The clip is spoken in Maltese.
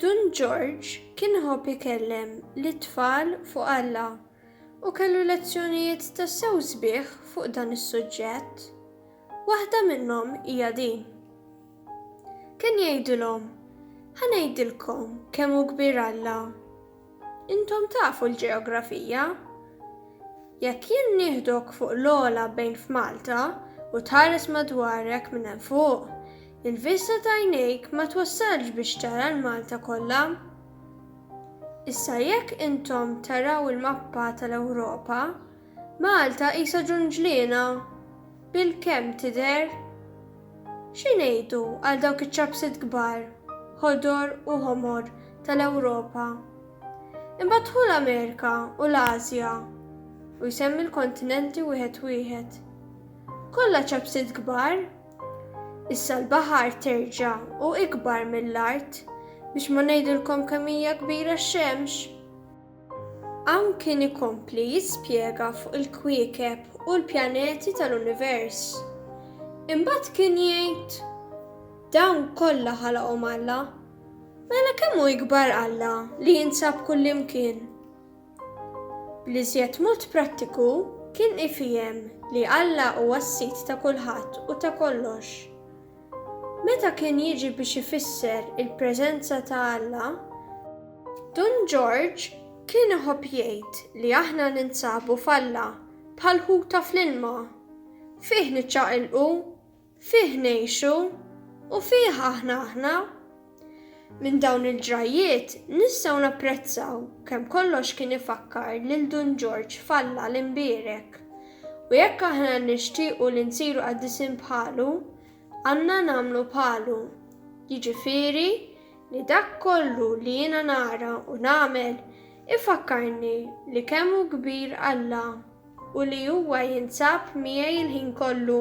Dun Ġorġ kien iħobb ikellem lit-tfal fuq Alla u kellu lezzjonijiet tassew sbieħ fuq dan is-suġġett. Waħda minnhom hija din. Kien jgħidilhom, Ħa ngħidilkom kemm hu kbir Alla. Intom tafu l-ġeografija. Jekk jien nieħdok fuq l-ogħla bejn f'Malta u tħares madwarek minn hemm fuq, il-vista t'għajnejk ma twassalx biex tara l-Malta kollha. Issa jekk intom taraw il-mappa tal-Ewropa, Malta qisha ġunġliena bilkemm tidher. Xi ngħidu għal dawk iċ-ċapsiet kbar, ħodor u ħomor, tal-Ewropa? Imbagħad ħu l-Amerika u l-Ażja, u jsemmi l-kontinenti wieħed wieħed. Kollha ċapsiet kbar? Issa l-baħar terġa' hu ikbar mill-art, biex ma ngħidilkom kemm hija kbira x-xemx. Hawn kien ikompli jispjega fuq il-kwiekeb u l-pjaneti tal-univers. Imbagħad kien jgħid, Dawn kollha ħalaqhom Alla. Mela kemm hu ikbar Alla li jinsab kullimkien? Bl-iżjed mod prattiku kien ifihem li Alla huwa s-Sid ta' kulħadd u ta' kollox. Meta kien jiġi biex ifisser il-preżenza ta' Alla, Dun Ġorġ kien iħobb jgħid li aħna ninsabu f'Alla bħal ħuta fl-ilma. Fih niċċaqilqu, fih ngħixu, u fih aħna aħna. Minn dawn il-ġrajjiet nistgħu napprezzaw kemm kollox kien ifakkar lil Dun Ġorġ f'Alla l-Imbierek. U jekk aħna nixtiequ li nsiru qaddisin bħalu, għandna nagħmlu bħalu. Jiġifieri li dak kollu li jiena nara u nagħmel ifakkarni li kemm hu kbir Alla. u li huwa jinsab miegħi l-ħin kollu.